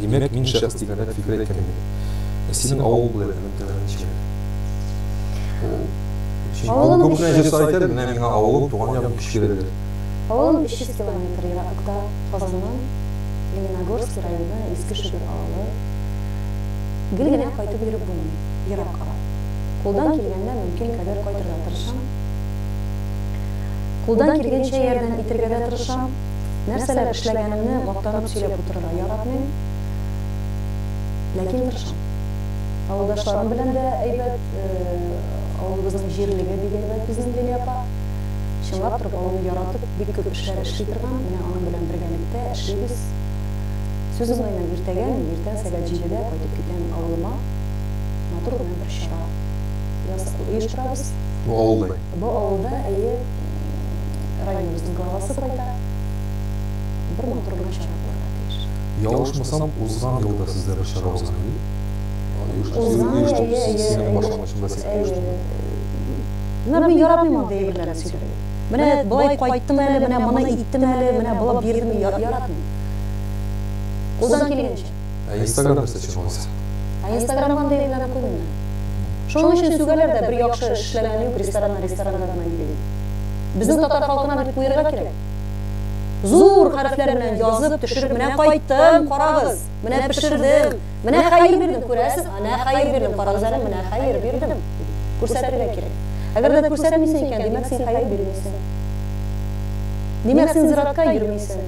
Димәк, мин шәхес дигәндә фикер әйткән идем. Ә синең авыл булу әйтүнең тәме ничек? Ул, син авыл күп кенә җырчылар әйтәдер, менә миңа авылым, туган ягым Кишкирәдер. Авылым 300 километр ераклыкта, Казаннан, Лениногорский районы, Иске Шөгер авылы. Гел генә кайтып йөреп булмый, ерак ара. Кулдан килгәндә мөмкин кадәр кайтырга тырышам. Кулдан килгәнчә ярдәм итергә дә тырышам. Нәрсәләр эшләгәнемне мактанып сөйләп утырырга яратмыйм, ләкин тырышам. Авылдашларым белән дә әйбәт, авылыбызның җирлеге бик әйбәт безнең Лилия апа. Чынлап торып авылны яратып, бик күп эшләр эшли торган, менә аның белән бергәлектә эшлибез. Сүз уңаеннан иртәгә мин иртән сәгать җидедә кайтып китәм авылыма. Матур гына бер чара оештырабыз. Бу авылда? Бу авылда, әйе. Районыбызның главасы кайда? Бер матур гына чара булырга тиеш. Ялгышмасам, узган ел да сездә бер чара узган иде бит? Узган ел, әйе, әйе, әйе. Синең башлангычыңда син оештырдың. Менә мин яратмыйм андый әйберләрне сөйләргә. Менә болай кайттым әле, менә моны иттем әле, менә болай бирдем, яратмыйм. Кулдан килгәнчә. Ә инстаграм нәрсә өчен алайса? Ә инстаграм андый гына күренми. Шуның өчен сүгәләр дә, бер яхшы эш эшләгән юк, рестораннар ресторанга гына йөри дип. Безнең татар халкына бит куерга кирәк. Зур хәрефләр белән язып, төшереп, менә кайттым, карагыз, менә пешердем, менә хәер бирдем, күрәсез, әнә хәер бирдем, карагыз әле, менә хәер бирдем, дип күрсәтергә кирәк. Әгәр дә күрсәтмисең икән, димәк син хәер бирмисең. Димәк син зиратка йөрмисең.